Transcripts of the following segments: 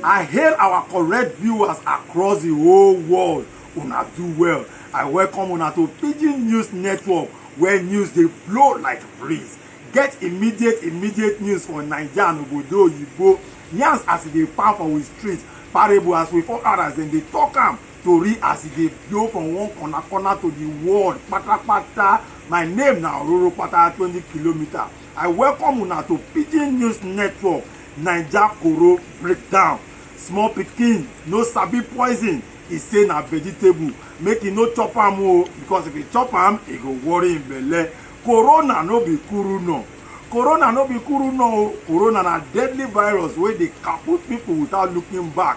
I hail our correct viewers across the whole world. Una do well. I welcome una to Pidgin News Network where news dey blow like breeze. Get immediate immediate news for Naija and obodo oyibo. Yarns as e dey pound for we street, parable as we for others dem dey talk am. Tori as e dey blow from one corner corner to the world patapata, my name na Ororo Pata twenty kilometer, I welcome una to Pidgin News Network Naija Koro Breakdown, small pikin no sabi poison, e say na vegetable make e no chop am o because if e chop am e go worry im belle, Corona no be kuru nor, Corona no be kuru nor o, Corona na deadly virus wey dey kaput people without looking back.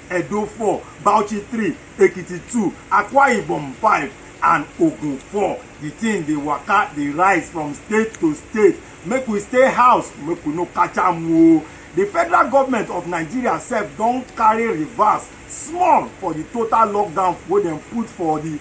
Edo four, Bauchi three, Ekiti two, Akwa Ibom five, and Ogun four. The thing dey waka dey rise from state to state. Make we stay house, make we no catch am o. The federal government of Nigeria sef don carry reverse small for the total lockdown wey dem put for the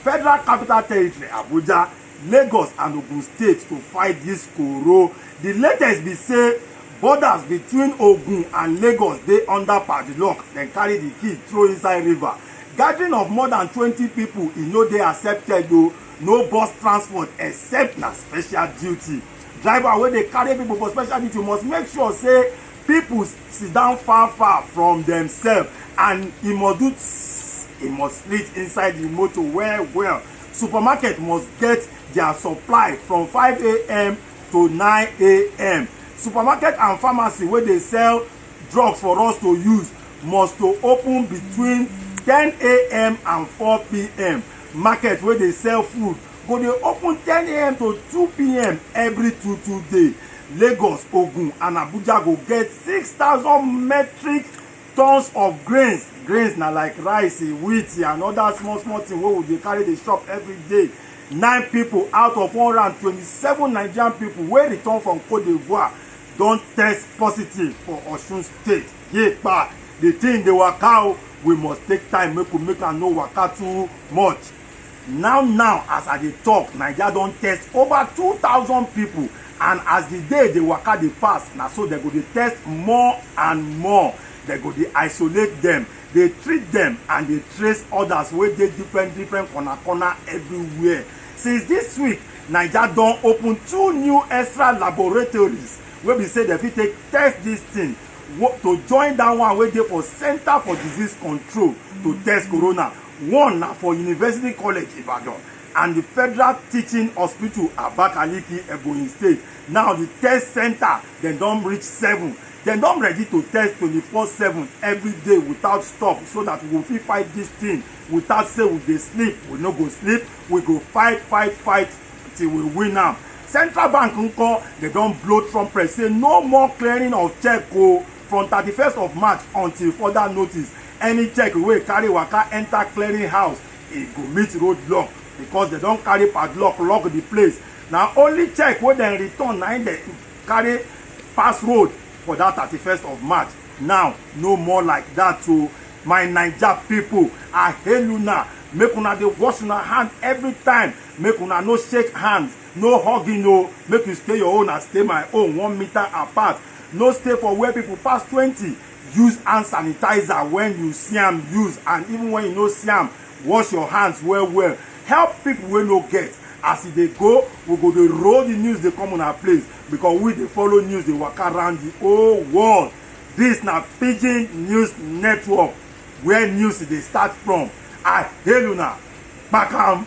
federal capital territory Abuja. Lagos and Ogun State to fight dis koro. Di latest be say borders between Ogun and Lagos dey under padlock, dem carry di key throw inside river. Gathering of more than twenty pipo e no dey accepted o, no bus transport except na special duty. Driver wey dey carry pipo for special duty must make sure say pipo sit down far far from demsef and e must do tss, e must split inside di motor well well. supermarket must get their supply from 5am to 9am supermarket and pharmacy wey dey sell drugs for us to use must to open between 10am and 4pm market wey dey sell food go dey open 10am to 2pm every two two day lagos ogun and abuja go get 6000 metric tons of grains grains na like rice wheat and other small small thing wey we dey carry dey shop every day nine people out of one hundred and twenty-seven nigerian people wey return from cote d'ivoire don test positive for osun state yepa the thing dey waka o we must take time make we make am no waka too much Now now as I dey talk Naija don test over two thousand people and as the day dey waka dey pass na so dem go dey test more and more, dem go dey isolate dem, dey treat dem and dey trace others wey dey different different corner corner everywhere. Since this week Naija don open two new extra laboratories wey be say dem fit take test this thing to join that one wey dey for center for disease control to test corona. One na for University College Ibadan and di Federal Teaching Hospital Abakaliki, Ebonyi State. Now di test centre dem don reach seven. Dem don ready to test twenty four seven every day without stop so that we go fit fight this thing without say we dey sleep. We no go sleep, we go fight, fight, fight till we win am. Central Bank nko, dem don blow trumpet say no more clearing of check o from thirty first of March until further notice. Any check wey carry waka enter clearing house, e go meet road lock because dem don carry padlock lock the place. Na only check wey dem return na im dem carry pass road for that thirty first of March. Now, no more like that o. My Naija pipu, I hail una, make una dey wash una hand every time, make una no shake hands, no hugging o, make you stay your own and stay my own one meter apart, no stay for where pipu pass twenty. Use hand sanitizer when you see am use and even when you no see am, wash your hands well well. Help people wey no get. As e dey go, we go dey roll the news dey come una place because we dey follow news dey waka round the whole world. This na Pidgin News Network where news dey start from. I hail una. Kpakam!